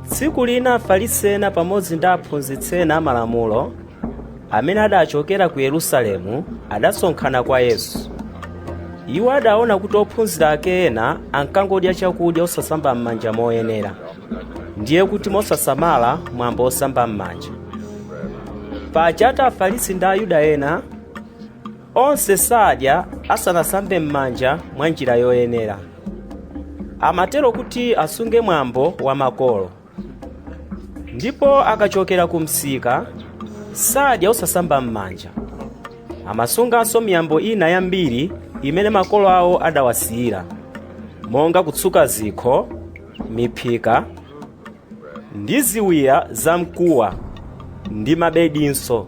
tsiku lina afarisi ena pamodzi ndi aphunzitsi ena amalamulo amene adachokera ku yerusalemu adasonkhana kwa yesu iwo adaona kuti ophunzira ake ena ankangodya chakudya osasamba m'manja moyenera ndiye kuti mosasamala mwambo osamba m'manja paja ati afarisi ndi ayuda ena Onse sadya asanasambe m'manja mwa njira yoyenera. Amatero kuti asunge mwambo wa makolo. Ndipo akachokera ku msika sadya osasamba m'manja. Amasunganso miyambo ina yambiri imene makolo awo adawasiyira, monga kutsuka zikho, miphika ndi ziwiya zamkuwa ndi mabedinso.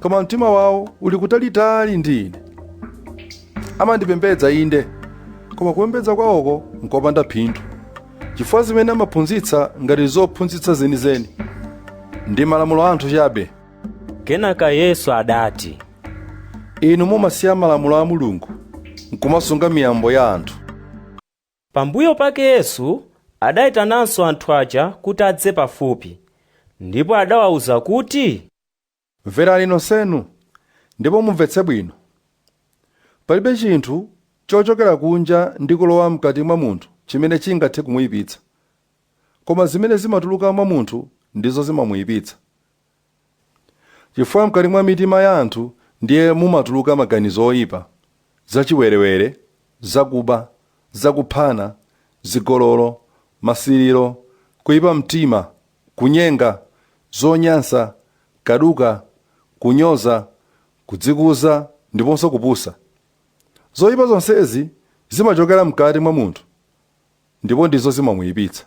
koma mtima wawo uli kutalitali ndi ine amandipembedza inde koma kupembedza kwawoko nkopanda phindu chifukwa zimene amaphunzitsa ngati zophunzitsa zenizeni ndi malamulo a anthu chabe kenaka yesu adati inu mumasiya malamulo a mulungu nkumasunga miyambo ya anthu Pambuyo pake Yesu adaitananso anthu aja kuti adze pafupi, ndipo adawauza kuti. Mverani nonsenu, ndipo mumvetse bwino. Palibe chinthu chochokera kunja ndi kulowa m'kati mwa munthu chimene chingathe kumuyipitsa. Koma zimene zimatuluka mwa munthu ndizo zimamuyipitsa. Chifukwa mkati mwa mitima ya anthu ndiye mumatuluka maganizo oipa, zachiwerewere, zakuba, zakuphana, zigololo, masiriro, kuipa mtima, kunyenga, zonyansa, kaduka, kunyoza, kudzikuza, ndiponso kupusa. Zoipa zonsezi zimachokera mkati mwa munthu ndipo ndizo zimamuipitsa.